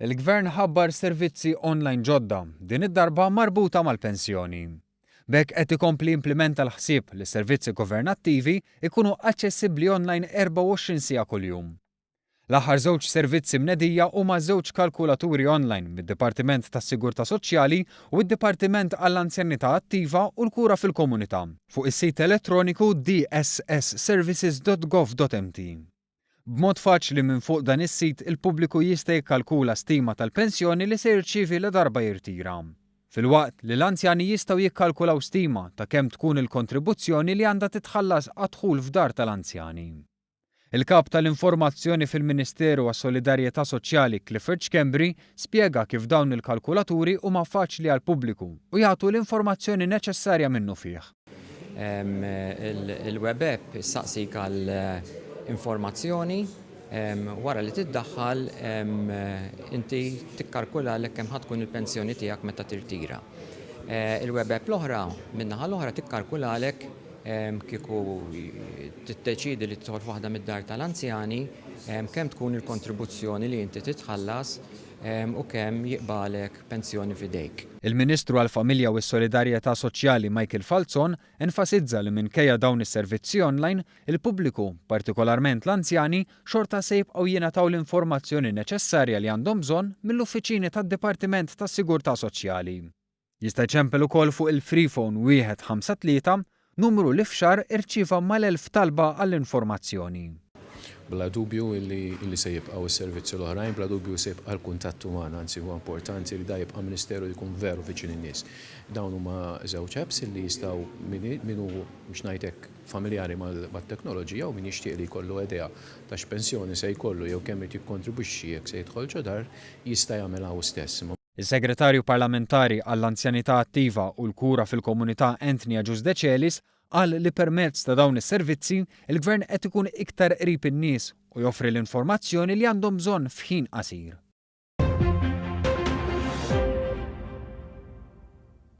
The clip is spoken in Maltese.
Il-Gvern ħabbar servizzi online ġodda, din id-darba marbuta mal-pensjoni. B'hekk qed ikompli jimplimenta l-ħsieb li s-servizzi governattivi jkunu aċċessibbli online 24 siegħa kuljum. L-aħħar żewġ servizzi mnedija huma żewġ kalkulaturi online mid-Dipartiment tas-Sigurtà Soċjali u d-Dipartiment għall-Anzjanità Attiva u l-Kura fil-Komunità, fuq is-sit elettroniku dss-services.gov.mt. B'mod faċli minn fuq dan is-sit il-pubbliku jista' jikkalkula stima tal-pensjoni li se jirċievi ladarba jirtira, filwaqt li l-anzjani jistgħu jikkalkulaw stima ta' kemm tkun il-kontribuzzjoni li għandha titħallas għad-dħul f'dar tal-anzjani. Il-Kap tal-Informazzjoni fil-Ministeru għas-Solidarjetà Soċjali Clifford Schembri spjega kif dawn il-kalkulaturi huma faċli għall-pubbliku u jagħtu l-informazzjoni neċessarja minnufih. Il-web app issaqsik għal informazzjoni, wara li tiddaħħal inti tikkalkulalek kemm ħa tkun il-pensjoni tiegħek meta tirtira. Il-web app l-oħra, min-naħa l-oħra, tikkalkulalek Kieku tiddeċiedi li tidħol f'waħda mid-dar tal-anzjani, kemm tkun il-kontribuzzjoni li inti titħallas u kemm jiqbagħlek pensjoni f'idejk? Il-Ministru għall-Familja u s-Solidarjetà Soċjali Michael Falzon enfasizza li minkejja dawn is-servizzi online, il-pubbliku, partikolarment l-anzjani, xorta se jibqgħu jingħataw l-informazzjoni neċessarja li għandhom bżonn mill-uffiċini tad-Dipartiment tas-Sigurtà Soċjali. Jista' jċempel ukoll fuq il-Freephone 153, numru li f'xahar irċieva mal-elf talba għall-informazzjoni. Bla dubju li se jibqgħu s-servizzi l-oħrajn, bla dubju se jibqa' l-kuntatt uman, anzi huwa importanti li dan jibqa' Ministeru li jkun veru viċin in-nies. Dawn huma żewġ apps li jistgħu min hu biex ngħid hekk familjari mat-teknoloġija u min jixtieq li jkollu idea ta' x'pensjoni se jkollu jew kemm irid jikkontribwixxi jekk se jidħolx dar jista' jagħmilha hu stess. Is-Segretarju Parlamentari għall-Anzjanità Attiva u l-Kura fil-Komunità Anthony Agius Decelis qal li permezz ta' dawn is-servizzi, il-Gvern qed ikun iktar qrib in-nies u joffri l-informazzjoni li għandhom bżonn f'ħin qasir.